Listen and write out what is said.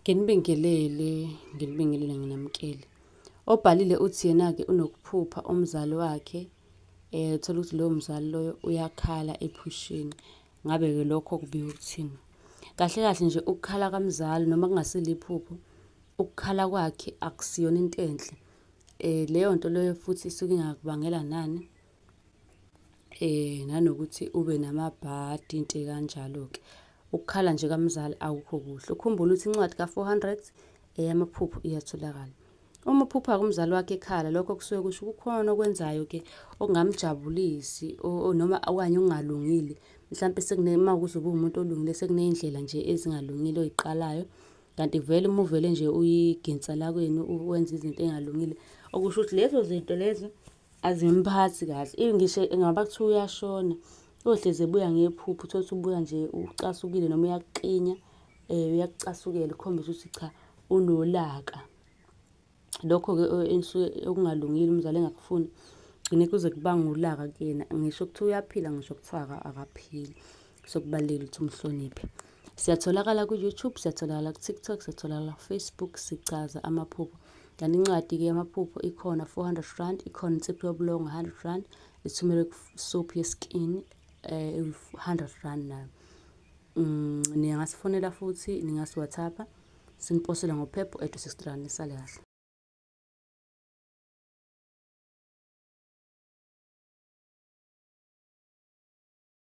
Nginibingelele, nginibingelele nginamukele. Obhalile uthi yena-ke unokuphupha umzali wakhe eh uthola ukuthi loyo mzali loyo uyakhala ephusheni. Ngabe-ke lokho kubika ukuthini? Kahle kahle nje ukukhala kamzali noma kungasile iphupho, ukukhala kwakhe akusiyona into enhle. Eh leyo nto leyo futhi isuke ingakubangela nani? Eh nanokuthi ube namabhadi into ekanjalo ke. Ukukhala nje kamzali awukho kuhle. Ukhumbula ukuthi incwadi ka400 eyamaphupho iyatholakala. Uma uphupha kumzali wakhe ekhala lokho kusuke kusho kukhona okwenzayo ke okungamjabulisi noma okanye okungalungile. Mhlambe sekune uma kuzoba umuntu olungile sekunezindlela nje ezingalungile oyiqalayo. Kanti vele uma uvele nje uyiginsa la kwenu wenza izinto ezingalungile okusho ukuthi lezo zinto lezo Azimphathi kahle. Even ngisho ngaba kuthiwa uyashona, uyohlezi ebuya ngephupho, uthole ukuthi ubuya nje ucasukile noma uyakuqinya, um uyakucasukela ukhombisa ukuthi cha unolaka. Lokho-ke enisuke okungalungile umzali engakufuni, kugcine kuze kubange ulaka kuyena. Ngisho kuthiwa uyaphila ngisho kuthiwa akaphili. so kubalulekile ukuthi umhloniphe siyatholakala ku-youtube siyatholakala ku-tiktok siyatholakala kufacebook sichaza amaphupho kanti incwadi-ke yamaphupho ikhona 400 rand ikhona insipho yobulongo 100 rand ithumelwe kusophu yeskin um eh, 100 rand nayo um ningasifonela futhi ningasiwathapha siniposele ngophepho edu 60 rand nisale kahle